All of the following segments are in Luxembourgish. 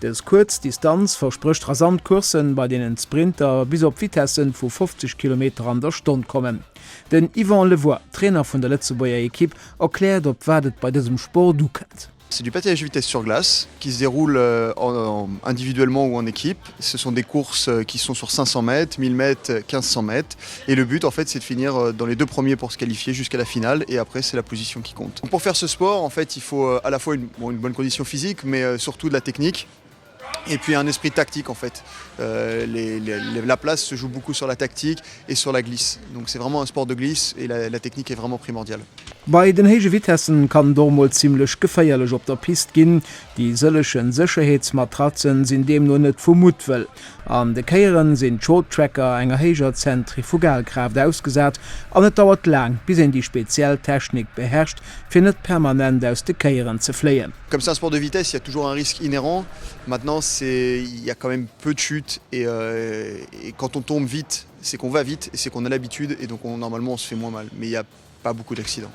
Dës kuerz Distanz versprécht rasant Courssen, bei deenen d'Sprinter bis op Vitessen vu 50 Kilometer an der Stonn kommen. Den Yvan Le Voit, Trainer vun der Lëtzebuerger Ekipp, erkläert, op wat et bei dësem Sport ukënnt. C'est du patinage de vitesse sur glace qui se déroule individuellement ou en équipe. Ce sont des courses qui sont sur 500 mètres, 1000 mètres, 1500 mètres. Et le but en fait c'est de finir dans les deux premiers pour se qualifier jusqu'à la finale et après c'est la position qui compte. Pour faire ce sport en fait il faut à la fois une bon une bonne condition physique mais surtout de la technique et puis un esprit tactique en fait les les la place se joue beaucoup sur la tactique et sur la glisse donc c'est vraiment un sport de glisse et la la technique est vraiment primordiale. Bei den héije Vitessen kann et och mol zimlech geféierlech op der Piste ginn. Déi sëllechen Sécherheetsmatratzen sinn deemno net vu Muttwëll. An de Kéieren sinn d'Shorttracker enger héijer Zentrifugalkraaft ausgesat an et dauert laang, bis een déi speziell Technik beherrscht, fir net permanent aus de Kéieren ze fléien. Comme c'est un sport de vitesse, il y a toujours un risque inhérent. Maintenant, c'est, il y a quand même peu de chutes et quand on tombe vite, c'est qu'on va vite et c'est qu'on a l'habitude et donc on, normalement, on se fait moins mal. Mais il y a. Pas beaucoup d'accidents.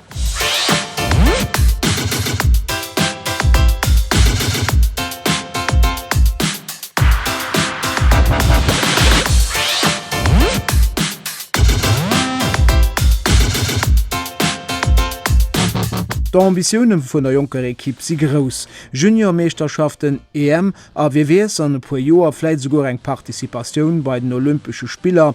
D'Ambitioune vun der jonker Ekipp si grouss, Juniormeeschterschaften, EM a wie weess, an e puer Joer vläit esouguer eng Participatioun bei den Olympesche Spiller.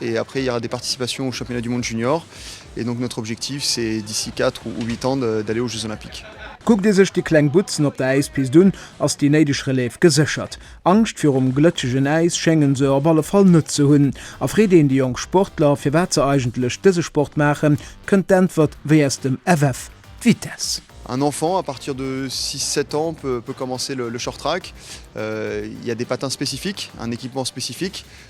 Et après il y aura des participations aux championnats du monde junior et donc notre objectif c'est d'ici quatre ou huit ans d'aller aux jeux olympiques. Kuckt ee sech déi kleng Butzen op der Äispist un, ass déi néideg Relève geséchert. Angscht virum glëtschegen Äis schéngen se op alle Fall net ze hunn. A freet een déi jonk Sportler, firwat se eigentlech dëse Sport maachen, kënnt d'Äntwert wéi aus dem FF, d'Vitesse. Un enfant à partir de six, sept ans peut peut commencer le short track. Il y a des patins spécifiques, un équipement spécifique,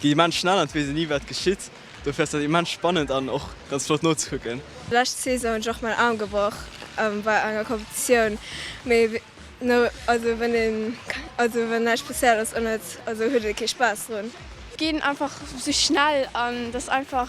Déi immens schnell an d'wees een ni wat geschitt, dofir ass dat immens spannend an och ganz flott nozekucken. Lescht Saison hunn ech och mäin Aarm gebrach bei enger Competitioun, mee no also wann een also wann näischt spécial ass an et also huet ee kee Spaass drun. Ginn einfach sou schnell an dass einfach.